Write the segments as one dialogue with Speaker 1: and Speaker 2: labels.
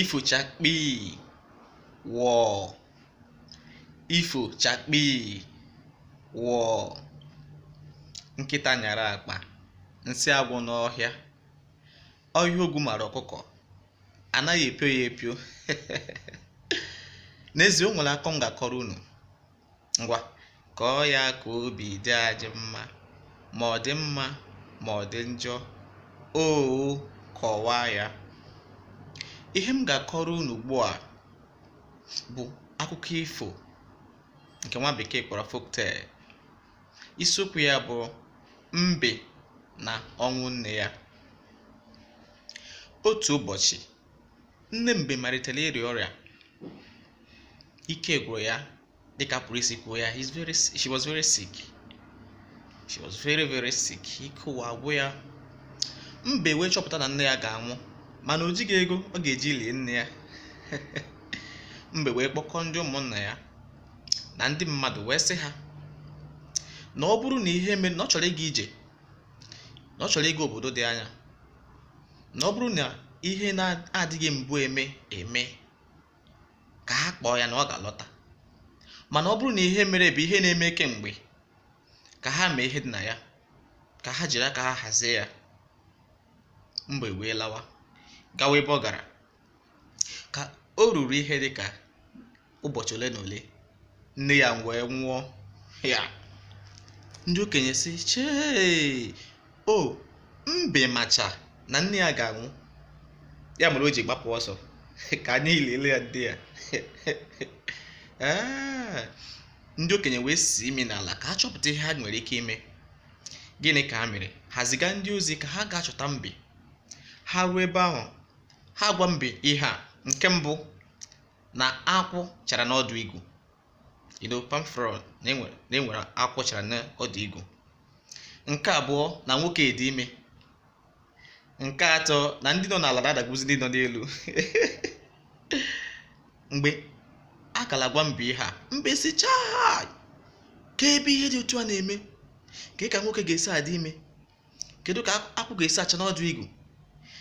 Speaker 1: ifochakpii wọọ ifochakpii wọọ nkịta nyara akpa nsị agwụ n'ọhịa ọhịa ogwu mara ọkụkọ anaghị epio ya epio n'ezie o nwere akọ m ga-akọrọ unu ngwa kọọ ya ka obi dị anyị mma ma ọ dị mma ma ọ dị njọ oo kọwaa ya ihe m ga-akọrọ unu ugbu a bụ akụkọ ifo nke nwa bekee kpọrọ folktale isiokwu ya bụ mbe na ọnwụ nne ya otu ụbọchị nne mbe malitere ịrịa ọrịa ike gwụrụ ya dịka a pụrụ isi kwuo ya he's very si- she was very sick she was very very sick ike ụwa agwụ ya mbe wee chọpụta na nne ya ga-anwụ mana o jighị ego ọ ga-eji lie nne ya mbe wee kpọkọọ ndị ụmụnna ya na ndị mmadụ wee sị ha na ọ bụrụ na ihe mere na ọ chọrọ ịga ije na ọ chọrọ ịga obodo dị anya na ọ bụrụ na ihe na-adịghị mbụ eme eme ka ha kpọọ ya na ọ ga-alọta mana ọ bụrụ na ihe mere bụ ihe na-eme kemgbe ka ha mee ihe dị na ya ka ha jiri aka ha hazie ya mbe wee lawa gawa ebe ọ gara ka o ruru ihe dị ka ụbọchị ole na ole nne ya wee nwụọ ya ndị okenye sị chee o mbe macha na nne ya ga-anwụ ya mere o ji gbapụ ọsọ ka anyị lele ya ndị ya ee ndị okenye wee si imi n'ala ka ha chọpụta ihe ha nwere ike ime gịnị ka ha mere ha ziga ndị ozi ka ha gaa chọta mbe ha ruo ebe ahụ ha agwa mbe ihe a nke mbụ na akwụ chara n'ọdụ igu you know palm frond na e nwere na e nwere akwụ chara n'ọdụ igu nke abụọ na nwoke dị ime nke atọ na ndị nọ n'ala na-adagbuzi ndị nọ n'elu mgbe a ka na-agwa mbe ihe a mbe sị chai kee ebe ihe dị otu a na-eme kee ka nwoke ga-esi adị ime kedu ka akwụ ga-esi acha n'ọdụ igu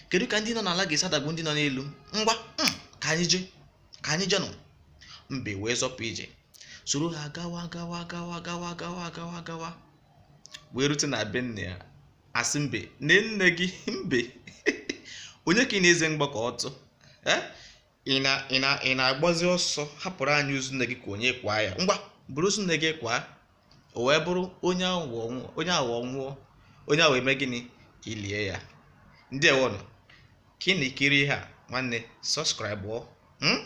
Speaker 1: kedu ka ndị nọ n'ala ga-esi adagbu ndị nọ n'elu ngwa hmm, ka anyị jee ka anyị jeenụ mbe wee zọpụ ije soro ha gawa gawa gawa gawa gawa gawa gawa wee rute na be nne ya a sị mbe nee nne gị mbe onye ka ị na-eze mgbakọ ọtụ ị na ị na ị na-agbazi ọsọ hapụrụ anyị ozu nne gị ka onye kwaa ya ngwa buru ozu nne gị kwaa o wee bụrụ onye aghụghọ nwụọ onye aghụghọ eme gịnị elie ya ndeewonụ ka ị na-ekiri ihe a nwanne subscribe ọ hmm?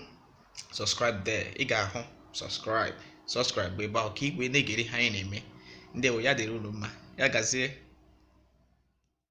Speaker 1: subscribe there ị ga-ahụ subscribe subscribe ebe ahụ ka i wee na-egere ihe anyị na-eme ndeewo ya dịrị unu mma ya gazie